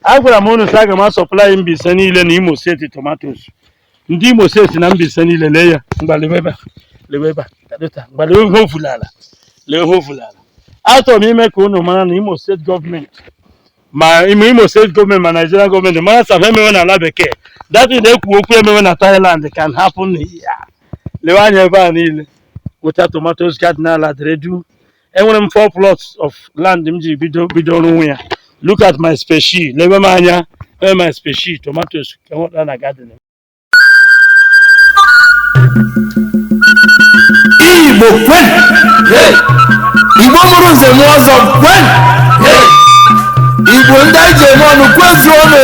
Agwara m unu sị aga m a-supply Mbaise niile na Imo State tomatoes. Ndị Imo State na Mbaise niile lee ya ngwa lewe ebe a lewe ebe a kadota ngwa lewe ihe ofula ala lewe ihe ofula ala. Achọrọ m ime ka unu mara na Imo State government ma Imo State government ma Nigerian government mara sị ihe emewe na ala bekee that ị na-ekwu okwu emewe na Thailand can happen here. Lewe anya ebe a niile wụcha tomatoes garden ala dịrị duu enwere m four plots of land m ji bido bido ọrụ nwe ya look at my species lebe m anya ebe my species tomatoes ka enweta na garden igbo kwenu igbo mụrụ nze mụọ ọzọ kwenu igbo ndị anyị ji eme ọnụ kwezuonụ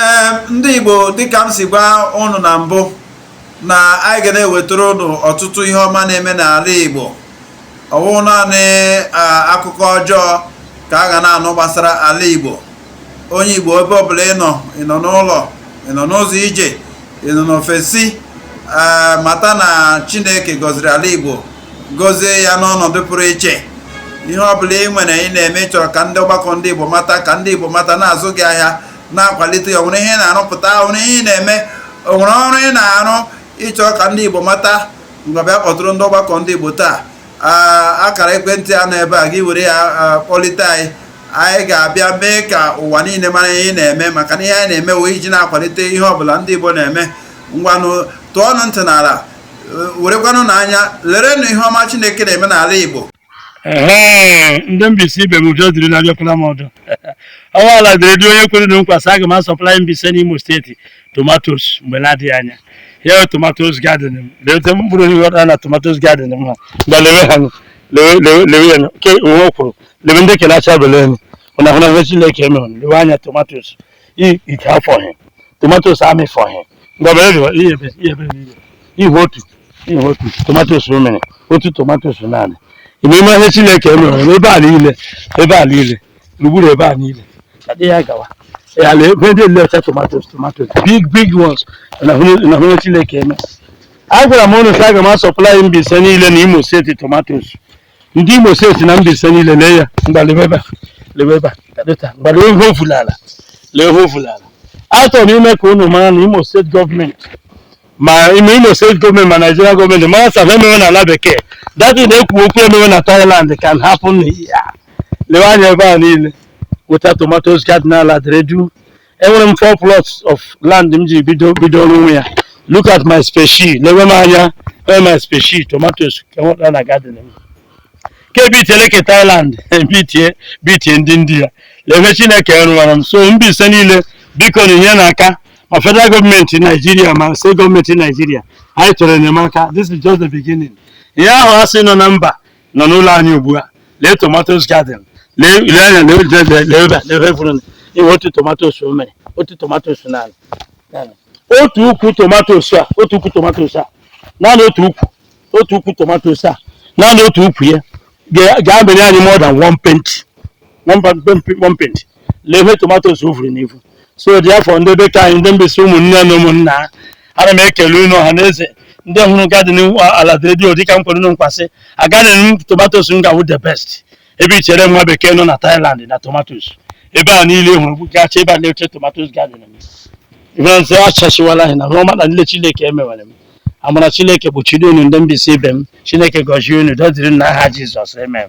ee ndị Igbo dịka m si gwa ụnụ na mbụ na anyị ga na-ewetara ụnụ ọtụtụ ihe ọma na-eme n'ala Igbo ọ wụ naanị akụkọ ọjọọ ka a ga na-anụ gbasara ala Igbo onye Igbo ebe ọbụla ị nọ ị nọ n'ụlọ ị nọ n'ụzọ ije ị nọ n'ofesi mata na Chineke gọziri ala Igbo gọzie ya n'ọnọdụ pụrụ iche ihe ọbụla ị nwere ị na-eme chọrọ ka ndị ọgbakọ ndị Igbo mata ka ndị Igbo mata na-azụ gị ahịa na-akwalite ya o nwere ihe ị na-arụpụta o nwere ihe ị na-eme o nwere ọrụ ị na-arụ ị chọ ka ndị Igbo mata ngwa bịa kpọtụrụ ndị ọgbakọ ndị Igbo taa akara ekwentị a nọ ebe a gị were ya kpọlite anyị anyị ga-abịa mee ka ụwa niile mara ihe ị na-eme maka na ihe anyị na-eme wụ iji na-akwalite ihe ọbụla ndị Igbo na-eme ngwanụ tụọnụ ntị n'ala werekwanụ n'anya lerenụ ihe ọma Chineke na-eme n'ala Igbo ee ndị Mbaise ibe m ụjọ dịrị na abịakwala m ọdọ ọnwa ala dịrị dị onye kwere unu nkwa sị aga m a-supply Mbaise na Imo State tomatoes mgbe na-adịghị anya ya tomatoes garden m lewe mkpụrụ ihe ọda na tomatoes garden m ha mgbe lewe ha lewe lewe lewe ya nke onwe kwuru lewe ndị kere acha bele m unu ahụna ihe chineke emere lewe anya tomatoes i- ite afọghị tomatoes amịfọghị ngọba eriwa ihe ebe ihe ebe niile ihe otu ihe otu tomatoes o mere otu tomatoes naanị ime ime ihe chineke emere n'ebe a niile ebe a niile gburugburu ebe a niile ka dị ya gawa ya na ebe ndị nile wụcha tomatoes tomatoes big big ones na hụrụ na hụrụ chineke eme agwara m ụnụ sị aga m a-supply Mbaise niile na Imo State tomatoes ndị Imo State na Mbaise niile lee ya ngwa lebe ebe a lebe ebe a kadota ngwa lee ihe ofula ala lee ihe ofula ala achọrọ m ime ka unu mara na Imo State government ma Imo State government ma Nigerian government mara sị ihe emewe na ala bekee that ị na-ekwu okwu emewe na Thailand can happen here lewe anya ebe a niile wụcha tomatoes garden ala dịrị duu enwere m four plots of land m ji bido rụwe ya look at my species lewe m anya wee my species tomatoes ka enweta na garden m ke bitele ke Thailand bitie bitie ndị India lee ihe Chineke rụwara m so Mbaise niile biko nyenụ aka ma federal government Nigeria ma state government Nigeria anyị chọrọ enyemaka this is just the beginning ihe ahụ a sị nọ na mba nọ n'ụlọ anyị ugbu a lee tomatoes garden lee ile anya lee ule lee lee ebe a, lee ebe furu na iwe otu tomatoes o mere otu tomatoes naanị naanị. otu ukwu tomatoes a otu ukwu tomatoes a naanị otu ukwu otu ukwu tomatoes a naanị otu ukwu ya ga- ga-amịnye anyị more than one paint one paint lee ihe tomatoes vuru n'ivu so therefore ndị be ke anyị ndị Mbaise ụmụnne na ụmụnna ana m ekele unu ọha na eze ndị hụrụ garden a la redio dịka m kwere unu nkwa sị garden m tomatoes m ga-awụ the best ebe i chere nwa bekee nọ na Thailand na tomatoes ebe a niile hụrụ gacha ebe a na-eche tomatoes garden m ihe ndị a achashiwala anyị na ọma na nile Chineke emewere m amara Chineke kpuchiri unu ndị Mbaise ibe m Chineke gọzie unu dọziri n'aha Jizọs amen